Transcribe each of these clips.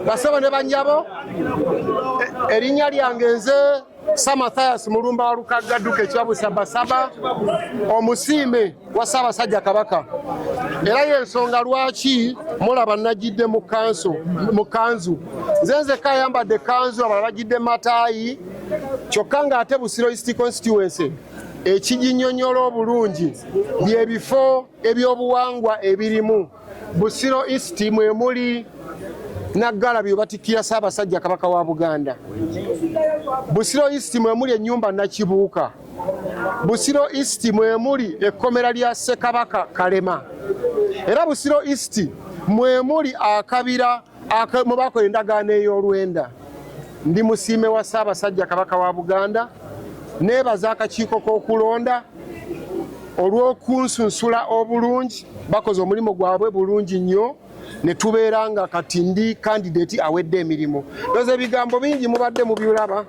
basebo ne banyabo e, erinnya lyange nze sa mathias mulumba wa lukagga dduka ekibabu sabasaba omusiime wa ssaabasajja kabaka era yensonga lwaki mulaba najidde mu kanzu nze nzeka ayambadde kanzu abala bajidde mataayi kyokka ng'ate busiro east constituency ekiginyonyola obulungi byebifo ebyobuwangwa ebirimu Busiro East mwe muli Naggalabi obatikkira Ssaabasajja Kabaka wa Buganda. Busiro East mwe muli ennyumba Nakibuuka. Busiro East mwe muli ekkomera lya Ssekabaka Kalema. Era Busiro East mwe muli akabira mwe bakola endagaano ey'olwenda ndi musiime wa ssaabasajja kabaka wa buganda neebaza akakiiko k'okulonda olw'okunsunsula obulungi bakoze omulimu gwabwe bulungi nnyo ne tubeera nga kati ndi kandidati awedde emirimu noza ebigambo bingi mubadde mubiulaba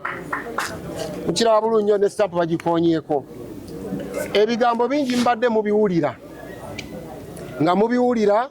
mukiraba bulungi nnyo ne stampu bagikonyeeko ebigambo bingi mubadde mubiwulira nga mubiwulira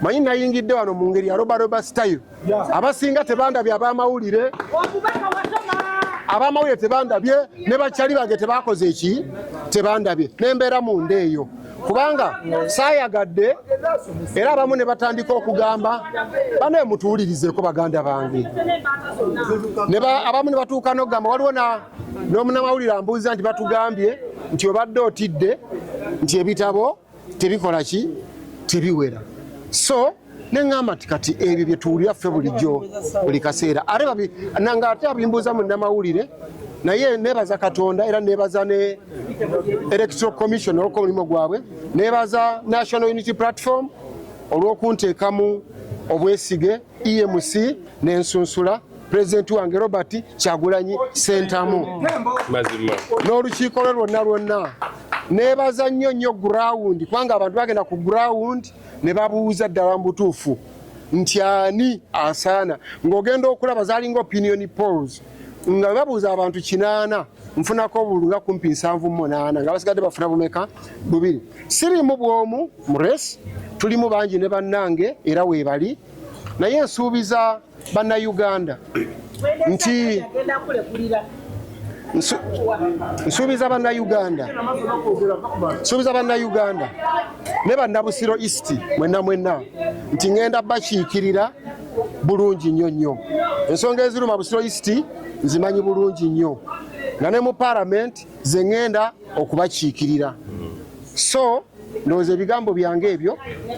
manyi nayingidde wano mu ngeri ya robaroba style abasinga tebandabye abamawulire abamawulire tebandabye ne bakyali bange tebakoze eki tebandabye nembeera munda eyo kubanga saayagadde era abamu ne batandika okugamba banaye mutuwulirizeko baganda bange abamu ne batuuka nokugamba waliwo n'omunamawulire ambuuza nti batugambye nti obadde otidde nti ebitabo tebikola ki tebiwera so neŋamba ti kati ebyo byetuwulira ffe bulijjo buli kaseera ate nanga ate abimbuuza mu namawulire naye nebaza katonda era nebaza ne electoral commission olwokuba omulimu gwabwe nebaza national unity platform olwokunteekamu obwesige EMC ne nsunsula pulezidenti wange Robert Kyagulanyi Sentamu n'olukiiko lwe lwonna lwonna nebaza nnyo nnyo gurawundi kubanga abantu bagenda ku gurawundi ne babuuza ddala mu butuufu nti ani asaana ng'ogenda okulaba zalinga opinion polls nga webabuuza abantu kinaana nfunako obulunga kumpi nsanvu munaana nga basigadde bafuna bumeka bubiri siriimu bw'omu mu race tulimu bangi ne bannange era weebali naye nsuubiza bannayuganda nti nsuubiza bannayuganda nsuubiza bannayuganda ne bannabusiro east mwenna mwenna nti ŋenda bakiikirira bulungi nnyo nnyo ensonga eziruma busiro east nzimanyi bulungi nnyo nga ne mu palamenti nze ŋŋenda okubakiikirira so ndowooza ebigambo byange ebyo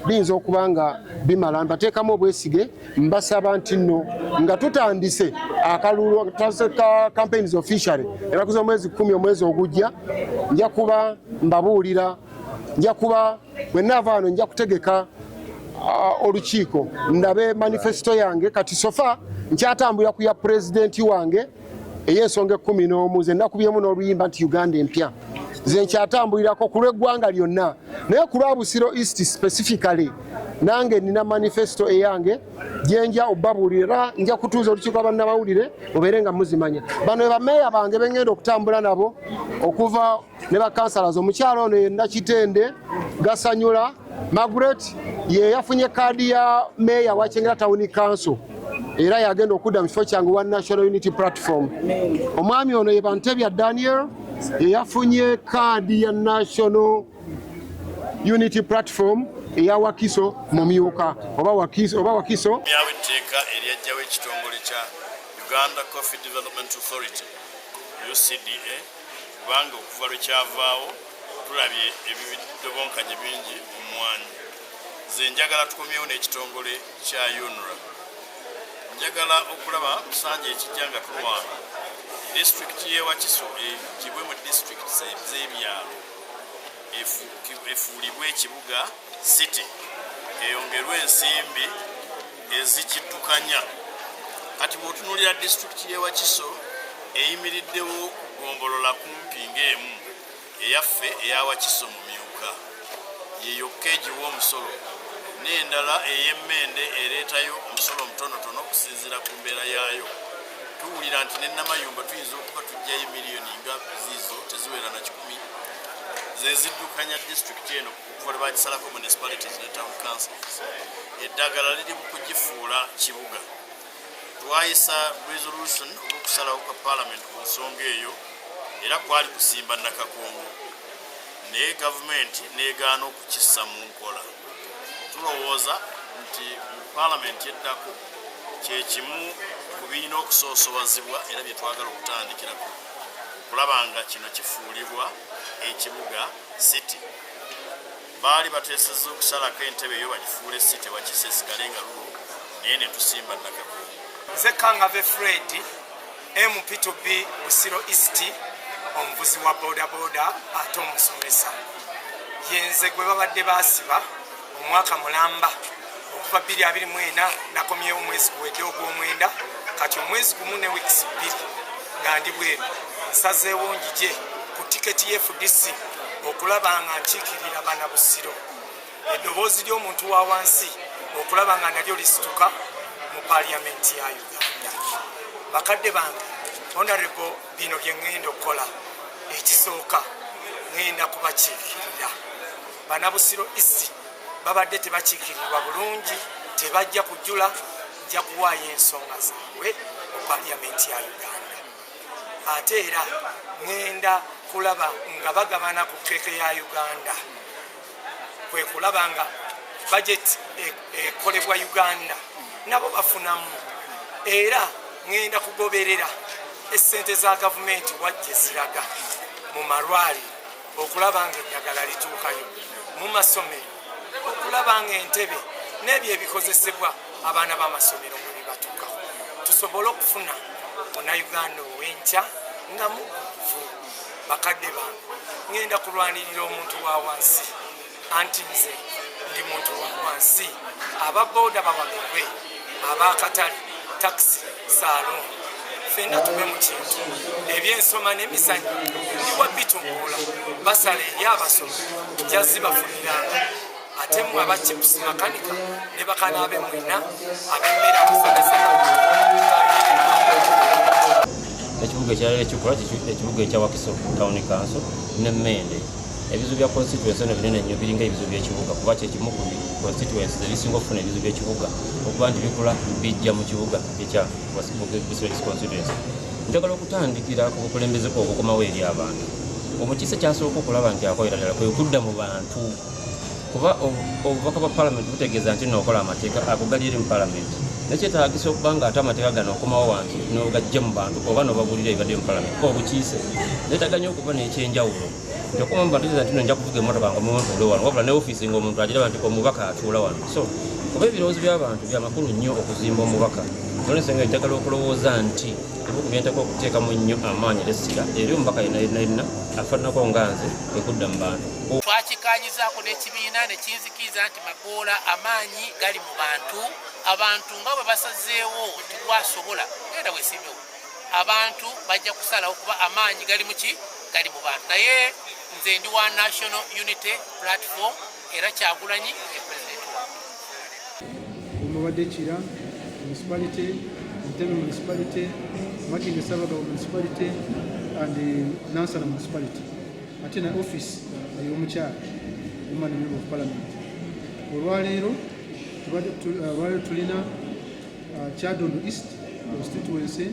biyinza okuba nga bimala mbateekamu obwesige mbasaba nti nno nga tutandise akalulu ka campaigns officially enaku z'omwezi kumi omwezi ogujja nja kuba mbabuulira nja kuba bwe naava wano nja kutegeka uh, olukiiko ndabe manifesito yange kati sofa nkyatambulira ku ya pulezidenti wange ey'ensonga ekkumi n'omu ze nakubyemu n'oluyimba nti uganda empya ze nkyatambulirako ku lw'eggwanga lyonna naye ku lwa busiro east specifically nange nina manifesto eyange gyenja obabuulira nja kutuuza olukiiko lwabannamawulire mubeere nga muzimanya bano ebameeya bange bengenda okutambula nabo okuva ne bakansalazi omukyala ono ye nakitende gasanyula magret ye yafunye kaadi ya meeya wa kyengera tawuni kanso era yagenda okudda mu kifo kyange wa national unity platform omwami ono ye bantebya daniel ye yafunye kaadi ya national unity platform eya wakiso mumyuka oba wakiso oba wakiso yawe teka eryajjawo ekitongole kya Uganda Coffee Development Authority UCDA kubanga okuva lwe kyavaawo tulabye ebidobonkanye bingi mu mmwanyi nze njagala tukomyewo n'ekitongole kya unra njagala okulaba musanja ekijja nga tulwana disitulikiti y'ewakiso egibwe mu disitulikiti z'ebyalo efuulibwe ekibuga city eyongerwe ensimbi ezikiddukanya kati bwotunulira disitulikiti y'ewakiso eyimiriddewo kugombolola kumpi ng'emu eyaffe eyawakiso mu myuka yeyokka egiwa omusolo n'endala ey'emmende ereetayo omusolo omutonotono okusinziira ku mbeera yaayo tuwulira nti nenamayumba tuyinza okuba tujjayo miliyoni nga ziizo teziwera na kikumi zeziddukanya disitulikiti eno kuva lwe bagisalako municipalities ne town councils eddagala liri mu kugifuula kibuga twayisa resolution olwokusalawo kwa parliament ku nsonga eyo era kwali kusimba nakakongo naye gavumenti negaana okukissa mu nkola tulowooza nti mu palamenti eddako kyekimu ku birina okusoosowazibwa era byetwagala okutandikirako okulaba nga kino kifuulibwa ekibuga City baali bateesezza okusalako entebe eyo bagifuule City wakisa esigale nga lulo naye ne tusimba nakako. Nze Kangave Fred MP2B Busiro East omuvuzi wa bodaboda ate omusomesa yenze gwe babadde basiba omwaka mulamba okuva 224 nakomyewo omwezi guwedde ogwomwenda kati omwezi gumu ne weeks bbiri nga ndi bweru nsazeewo njije ku tiketi ye fdc okulaba nga nkiikirira bana busiro eddoboozi ly'omuntu wa wansi okulaba nga nalyo lisituka mu paliyamenti ya uganda bakadde bange honorable bino bye ŋŋenda okukola ekisooka ŋŋenda kubakiikirira Banabusiro East babadde tebakiikirirwa bulungi, tebajja kujula, nja kuwaayo ensonga zaabwe mu paliyamenti ya Uganda. Ate era ŋenda kulaba nga bagabana ku keeke ya Uganda, kwe kulaba nga bajeti e-, ekolebwa Uganda nabo bafunamu, era ŋenda kugoberera essente za gavumenti wajje ziraga mu malwaliro. okulaba nga eddagala lituukayo mu masomero okulaba nga entebe n'ebyo ebikozesebwa abaana b'amasomero nga bibatuukaho tusobole okufuna munauganda ow'enkya nga mukufu bakadde bange ngenda kulwanirira omuntu wa wansi anti nze ndi muntu wansi aba boda bawagirwe abakatale takisi saaloni fena tube mu kintu ebyensoma n'emizanyo ndiwa bitumbula basala eri abasoma jazzi bafuniranga ate mwe aba chips makanika ne bakana abe mwena abemmera musomesa ekibuga ekyalala ekikola ekibuga ekya wakiso town council ne mende ebizibu bya constituency no binene nnyo biringa ebizibu by'ekibuga kuba kyekimu ku constituency ebisinga okufuna ebizibu by'ekibuga okuba nti bikula bijja mu kibuga ekya district constituency njagala okutandikira ku bukulembeze kwa obukomawo eri abantu omukiise kyasooka okulaba nti akoera ddala kwe kudda mu bantu kuba obubaka bwa palamenti butegeeza nti nookola amateeka ago gali eri mu palamenti nekyetagisa okuba nga ate amateeka gano okomawo wansi nogajja mu bantu oba nobabulira ebibadde mu palamenti obukiise netaganya okuba nekyenjawulo nti okuma mu bantu nti nja kuvuga emotoka nga muntule wano wabula ne ofiisi nga omuntu agiraba nti omubaka atuula wano so kuba ebirowoozo by'abantu byamakulu nnyo okuzimba omubaka nolensonga enjagala okulowooza nti ebiku byenteka okuteekamu nnyo amaanyi lesira eri omubaka yenayinayina afananako nga nze ekudda mu bantu zaako n'ekibiina ne kinzikiriza nti magoola amaanyi gali mu bantu abantu nga bwe basazeewo nti gwasobola genda wesimbewo abantu bajja kusalawo kuba amaanyi gali muki gali mu bantu naye nze ndi wa national unity platform era kyagulanyi e president wa omubadde kira municipality ntebe municipality makinge sabagabo municipality and nansana municipality ate na office ey'omukyala omwana member of parliament olwaleero olwaleero tulina uh, kyadondo east constituency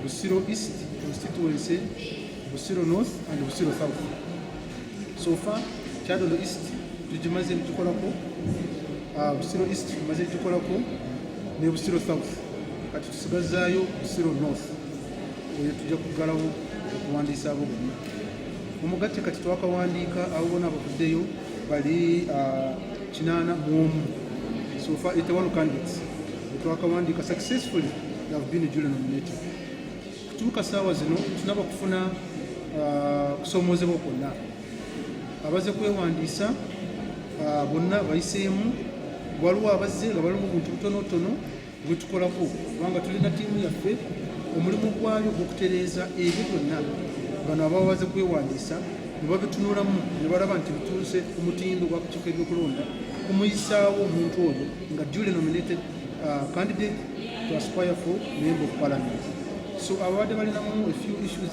busiro east constituency busiro north and busiro south so far kyadondo east tugimaze tukolako uh, busiro east tumaze tukolako ne busiro south kati tusigazaayo busiro north oyo tujja kuggalawo okuwandiisa abo bonna omugatte kati twakawandiika abo bona abavuddeyo bali ah, kinaana mu omu sofa etewano candidates twakawandiika successfully have been julian nominated kutuuka saawa zino tunaba kufuna ah, kusoomoozebwa kwonna abaze kwewandiisa ah, bonna bayiseemu waliwo abazze nga balimu buntu butonotono wetukolako kubanga tulina tiimu yaffe omulimu gwayo gwokutereeza ebyo byonna bano abawaze kwewandiisa nebabitunulamu nebalaba nti bituuse ku mutindo gwakukiiko ebyokulonda kumuyisaawo omuntu oyo nga duly nominated uh, candidate to aspire for member of parliament so ababadde balinamu a few issues